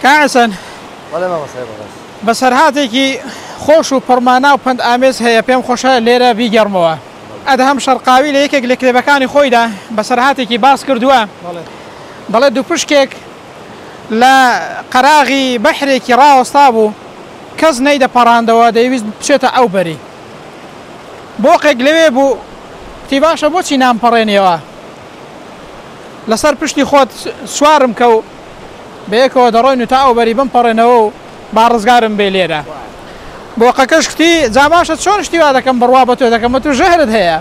کاک حەسەن بەڵێ مامۆستای بەڕێز. بەسەرهاتێکی خۆش و پڕمانا و پەند ئامێز هەیە پێم خۆشە لێرە بیگێڕمەوە. ئەدهەم شەرقاوی لە یەکێک لە کتێبەکانی خۆیدا بەسەرهاتێکی باس کردووە دەڵێت دووپشکێک لە قەراغی بەحرێکی ڕاوەستابوو کەس نەیدەپەڕاندەوە دەیویست بچێتە ئەو بەری بۆقێک لەوێ بوو گوتی باشە بۆچی نامپەڕێنیەوە؟ لەسەر پشتی خۆت سوارم کە و بەیەکەوە دەڕۆین و تا ئەو بەری بمپەڕێنەوە و با ڕزگارم بێ لێرە. بۆقەکەش کوتی، جا باشە چۆن شتی وا دەکەم بڕوا بە تۆ دەکەم ئەتوو ژەهرت هەیە.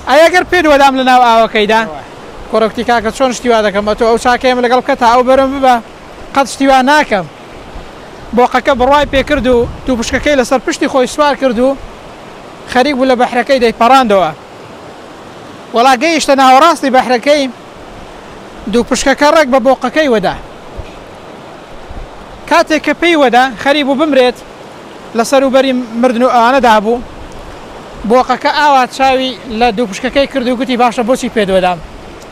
ئەی ئەگەر پێت وەدام لەناو ئاوەکەیدا؟ کوڕە کوتی، کاکە چۆن شتی وا دەکەم ئەتۆ ئەو چاکەیەم لەگەڵ بکە تا ئەو بەرم ببە قەت شتی وا ناکەم. بۆقەکە بڕوای پێ کرد و دوو پشکەکەی لەسەر پشتی خۆی سوار کرد و خەریک بوو لە بەحرەکەی دەیپەڕاندەوە. وەڵا گەیشتە ناوەڕاستی بەحرەکەی دوو پشکەکە ڕێک بە بۆقەکەی وەدا کاتێک کە پێی وەدا خەری بوو بمرێت لە سەروبەری مردن و ئەوانەدا بوو بۆقەکە ئاوا چاوی لە دوو پشکەکەی کرد و گوتی باشە بۆچی پێدوەدام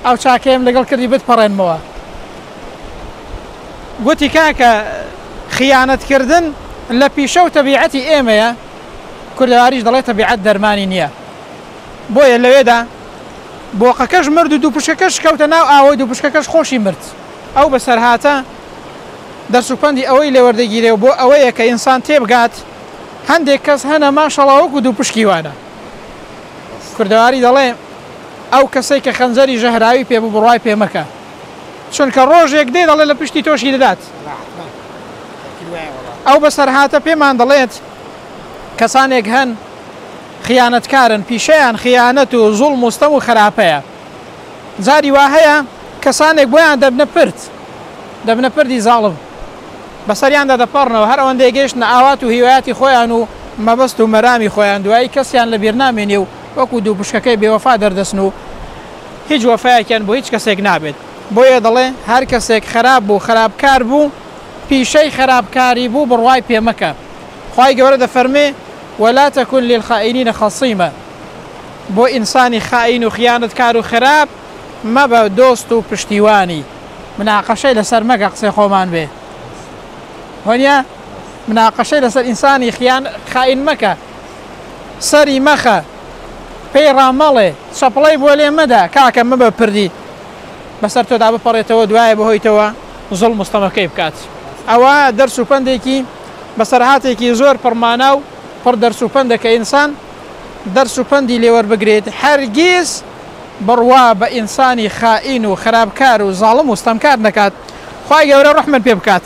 ئەو چاکەیەم لەگەڵ کردی بتپەڕێنمەوە گوتی کاکە خیانەتکردن لە پیشە و تەبیعەتی ئێمەیە کوردەواریش دەڵێ تەبیعەت دەرمانی نییە بۆیە لەوێدا بۆقەکەش مرد و دووپشکەکەش کەوتە ناو ئاوەی دووپشکەکەش خۆشی مرد ئەو بەسەرهاتە دەرس و پەندی ئەوەی لێوەردەگیرێ و بۆ ئەوەیە کە ئینسان تێبگات هەندێک کەس هەنە ماشەڵا وەکو دووپشکی وانە کوردەواری دەڵێ ئەو کەسەی کە خەنجەری ژەهراوی پێ ببڕای پێ مەکە چونکە ڕۆژێک دێ دەڵێ لە پشتی تۆشی دەدات ئەو بەسەرهاتە پێمان دەڵێت کەسانێک هەن خیانەتکارن پیشەیان خیانەت و زوڵ مستەم و خراپەیە جاری وا هەیە کەسانێک بۆیان دەبنە پرت دەبنە پردی زاڵم بەسەریاندا دەپەڕنەوە هەر ئەوەن دەیگەشتە ئاوات و هیوایەتی خۆیان و مەبەست و مەرامی خۆیان دوایی کەسیان لە بیرنامێنێ و وەکو دوو پشکەکەی بێوەفا دەردەسن و هیچ وەفایەکیان بۆ هیچ کەسێک نابێت، بۆیە دەڵێ هەر کەسێک خەراپ بوو خەراپکار بوو پیشەی خەراپکاری بوو بڕوای پێ مەکە خوای گەورە دەفەرمێ ولا تکن للخائنین خصیما بۆ ئینسانی خائین و خیانەتکار و خراپ مەبە دۆست و پشتیوانی. مناقەشەی لەسەر مەکە قسەی خۆمان بێ وەنیە مناقەشەی لەسەر ئینسانی خیان خائین مەکە سەری مەخە. پێی ڕا مەڵێ چەپڵەی بۆ لێ مەدە کاکە مەبە پردی بەسەر تۆدا بپەڕێتەوە دوایە بەهۆیتەوە زوڵم و ستەمەکەی بکات ئەوە دەرس و پەندێکی بەسەرهاتێکی زۆر پڕمانا و پڕ دەرس و پەندە کە ئینسان دەرس و پەندی لێوەربگرێت هەرگیز بڕوا بە ئینسانی خائین و خراپکار و زاڵم و ستەمکار نەکات خوای گەورە ڕەحمت پێ بکات